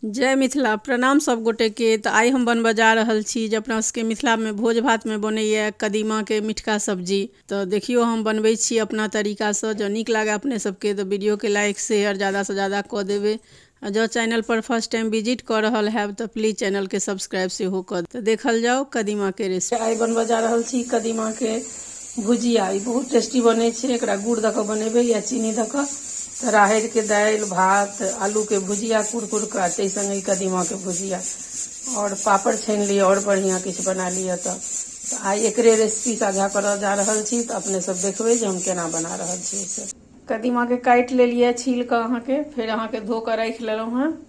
जय मिथिला प्रणाम सभ गोटेके तऽ आइ हम बनबऽ जा रहल छी जे अपना सभके मिथिलामे भोज भातमे बनैए कदीमाके मिठका सब्जी तऽ देखियौ हम बनबै छी अपना तरीकासँ जँ नीक लागय अपने सभके तऽ वीडियोके लाइक शेयर ज्यादासँ ज्यादा कऽ देबै आ जँ चैनलपर फर्स्ट टाइम विजिट कऽ रहल हैब तऽ प्लीज चैनलके सब्सक्राइब सेहो कऽ तऽ देखल जाउ कदीमाके रेसिपी आइ बनबऽ जा रहल छी कदीमाके भुजिया ई बहुत टेस्टी बनै छै एकरा गुड़ दऽ कऽ बनेबै या चीनी दऽ कऽ तऽ राहरिके दालि भात आलूके भुजिया कुरकुर कऽ ताहि सङ्गे ई कदीमाके भुजिया आओर पापड़ छानि लिअ आओर बढ़िआँ किछु बना लिअ तऽ आइ एकरे रेसिपी साझा करऽ जा रहल छी तऽ अपने सब देखबै जे हम केना बना रहल छी से कदीमाके काटि लेलियै छील कऽ अहाँके फेर अहाँके धो कऽ राखि लेलहुँ हेँ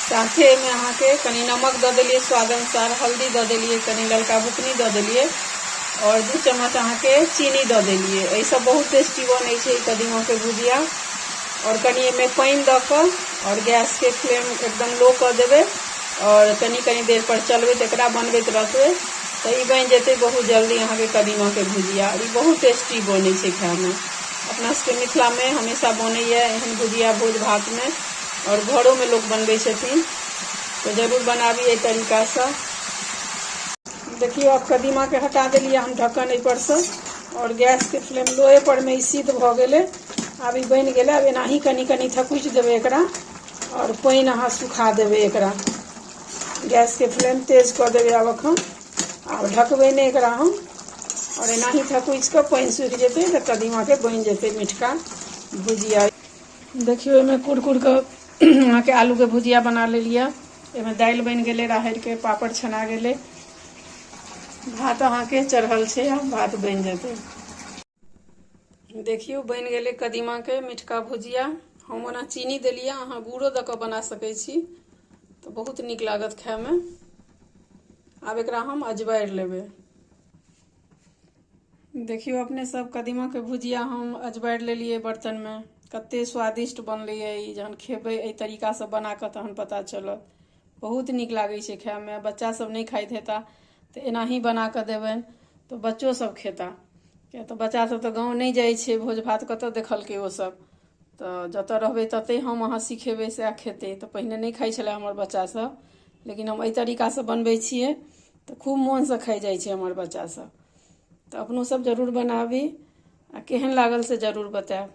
साथे एहिमे अहाँके कनि नमक दऽ देलिए स्वाद अनुसार हल्दी दऽ देलिए कनि ललका बुकनी दऽ देलिए आओर दू चम्मच अहाँके चीनी दऽ देलिए एहिसँ बहुत टेस्टी बनै छै कदीमाके भुजिया आओर कनि एहिमे पानि दऽ कऽ आओर गैसके फ्लेम एकदम लो कऽ देबै आओर कनि कनि देरपर चलबैत एकरा बनबैत रहबै तऽ ई बनि जेतै बहुत जल्दी अहाँके कदीमाके भुजिया ई बहुत टेस्टी बनै छै खाइमे अपना सबके मिथिला में हमेशा बने एहन भुजिया भोज भात में और घरों में लोग बनबे छथिन तो जरूर बनाबी एहि तरीका से देखियो आब कदीमा के हटा दिलिए हम ढक्कन एहि पर से और गैस के फ्लेम लोए पर में सिद्ध भ गए आब ई बन गए अब एनाही कनी कनी थकुच देवे एक और पानि अहाँ सुखा देवे एक गैस के फ्लेम तेज कर देवे आब अखन आब ढकबै नहि एकरा हम आओर एनाही थकुचि कऽ पानि सूखि जेतै तऽ कदीमाके बनि जेतै मिठका भुजिया देखियौ ओहिमे कुरकुर कऽ अहाँके आलूके भुजिया बना लेलियै एहिमे दालि बनि गेलै राहरिके पापड़ छना गेलै भात अहाँके चढ़ल छै आब भात बनि जेतै देखियौ बनि गेलै कदीमाके मिठका भुजिया हम ओना चीनी देलियै अहाँ गुड़ो दऽ कऽ बना सकै छी तऽ बहुत नीक लागत खायमे आब एकरा हम अजबारि लेबै देखियौ अपने सब कदीमाके भुजिया हम अजबारि लेलियै बर्तनमे कतेक स्वादिष्ट बनलैए ई जहन खेबै एहि तरीकासँ बना कऽ तहन पता चलत बहुत नीक लागै छै खायमे बच्चा सब नहि खाइत हेता तऽ एनाही बना कऽ देबनि तऽ बच्चो सब खेता किया तऽ बच्चा सब तऽ गाँव नहि जाइ छै भोज भात कतऽ देखलकै ओ सब तऽ जतऽ रहबै ततै हम अहाँ सिखेबै सएह खेतै तऽ पहिने नहि खाइ छलै हमर बच्चा सब लेकिन हम एहि तरीका सँ बनबै छियै तऽ खूब मोन सँ खाइ जाइ छै हमर बच्चा सब तऽ अपनो सब जरूर बनाबी आ केहन लागल से जरूर बतायब